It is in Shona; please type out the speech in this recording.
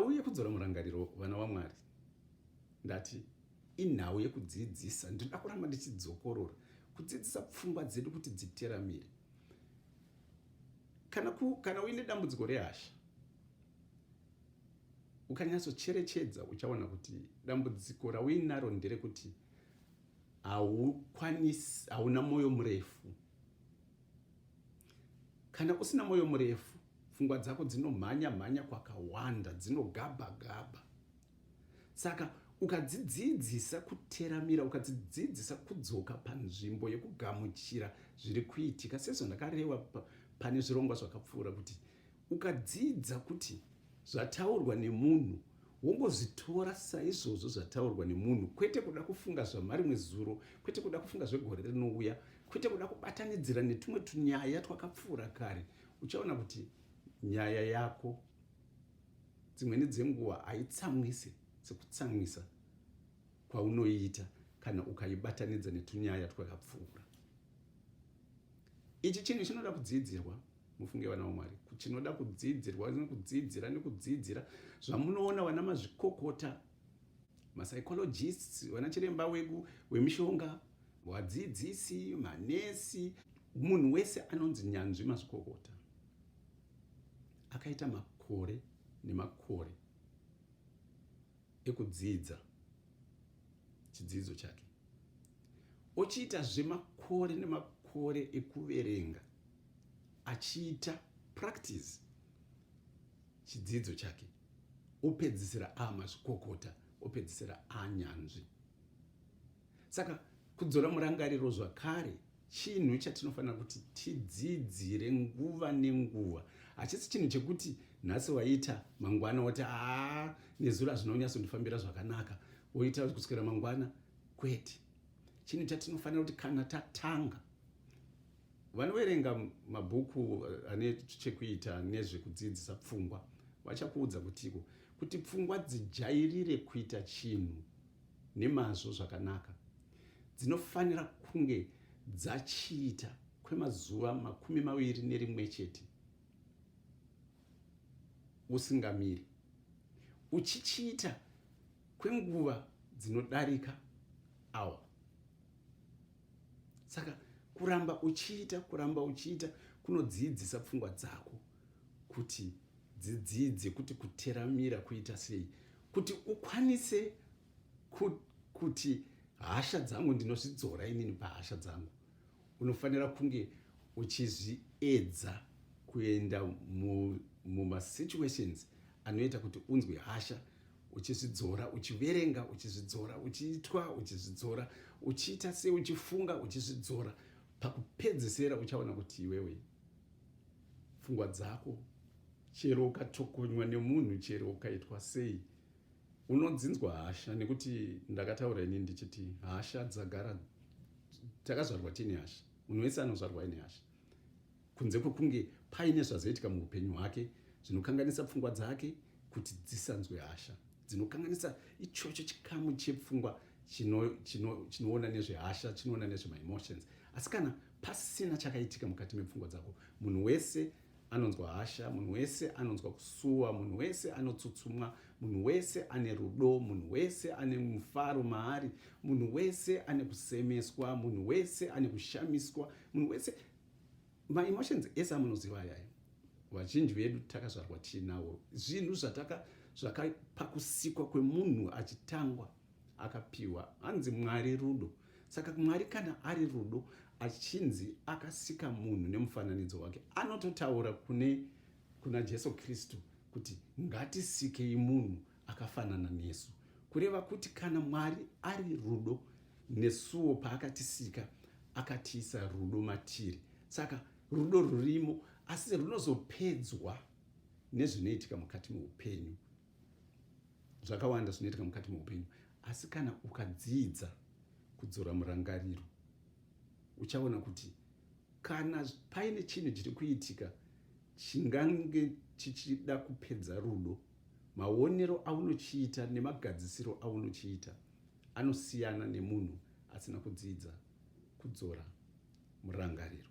Auye kudzora murangariro vana waMwari. Ndati inhau yekudzidzisa ndinoda kuramba ndichidzokorora kudzidzisa pfungwa dzedu kuti dziteramire kana, ku, kana uine dambudziko rehasha ukanyatsocherechedza uchaona kuti dambudziko rauinaro nderekuti haukwanisi hauna mwoyo murefu kana usina mwoyo murefu Pfungwa dzako dzinomhanya mhanya kwakawanda, dzinogabha gabha. Saka ukadzidziidzisa kuteramira, ukadzidziidzisa kudzoka panzvimbo yekugamuchira zviri kuitika, sezvo ndakareva pane zvirongwa zvakapfuura kuti ukadziidza kuti zvataurwa nemunhu wongozvitora saizvozvo zvataurwa nemunhu kwete kuda kufunga zvamarimwe zuro kwete kuda kufunga zvegore rinouya kwete kuda kubatanidzira netumwe tunyaya twakapfuura kare uchaona kuti nyaya yako dzimweni dzenguva haitsamwise sekutsamwisa kwaunoiita kana ukaibatanidza netunyaya twakapfuura ichi chinhu chinoda kudzidzirwa mufunge vana vamwari chinoda kudzidzirwa nekudzidzira nekudzidzira zvamunoona vana mazvikokota mapsychologists vana chiremba weku wemishonga vadzidzisi manesi Munhu wese anonzi nyanzvi mazvikokota akaita makore nemakore ekudzidza chidzidzo chake ochiita zvemakore nemakore ekuverenga achiita practice chidzidzo chake opedzisira amazvikokota opedzisira anyanzvi saka kudzora murangariro zvakare chinhu chatinofanira kuti tidzidzire nguva nenguva hachisi chinhu chekuti nhasi waita mangwana woti aa nezuro hazvinonyatsondifambira zvakanaka woita kuswera mangwana kwete chinhu chatinofanira kuti kana tatanga vanoverenga mabhuku eh, ane chekuita nezvekudzidzisa pfungwa vachakuudza kutiko kuti pfungwa dzijairire kuita chinhu nemazvo zvakanaka dzinofanira kunge dzachiita kwemazuva makumi maviri nerimwe chete usingamiri uchichiita kwenguva dzinodarika awa saka kuramba uchiita kuramba uchiita kunodziidzisa pfungwa dzako kuti dzidzidze kuti kuteramira kuita sei kuti ukwanise kuti hasha dzangu ndinozvidzora inini pahasha dzangu unofanira kunge uchizviedza kuenda mumasituations mu, anoita kuti unzwe hasha uchizvidzora uchiverenga uchizvidzora uchiitwa uchizvidzora uchiita se uchifunga uchizvidzora pakupedzesera uchaona kuti iwewe pfungwa dzako chero ukatokonywa nemunhu chero ukaitwa sei Unodzinzwa hasha nekuti ndakataura ini ndichiti hasha dzagara takazvarwa tiine hasha. Munhu wese anozvarwa aine hasha. Kunze kwekunge paine zvazoitika muupenyu hwake zvinokanganisa pfungwa dzake kuti dzisanzwe hasha. Dzinokanganisa ichocho chikamu chepfungwa chinoona chino, chino nezvehasha chinoona nezvemaemotions asi kana pasina chakaitika mukati mepfungwa dzako munhu wese anonzwa hasha munhu wese anonzwa kusuwa munhu wese anotsutsumwa munhu wese ane rudo munhu wese ane mufaro maari munhu wese ane kusemeswa munhu wese ane kushamiswa munhu wese maemotions ese amunoziva ayayo vazhinji vedu takazvarwa tiinawo zvinhu zvataka zvakapakusikwa kwemunhu achitangwa akapiwa hanzi mwari rudo Saka Mwari kana ari rudo achinzi akasika munhu nemufananidzo wake, anototaura kune kuna Jesu Kristu kuti ngatisikei munhu akafanana nesu, kureva kuti kana Mwari ari rudo nesuwo paakatisika akatiisa rudo matiri. Saka rudo rurimo asi runozopedzwa nezvinoitika mukati meupenyu zvakawanda zvinoitika mukati meupenyu asi kana ukadziidza kudzora murangariro uchaona kuti kana paine chinhu chiri kuitika chingange chichida kupedza rudo maonero aunochiita nemagadzisiro aunochiita anosiyana nemunhu asina kudzidza kudzora murangariro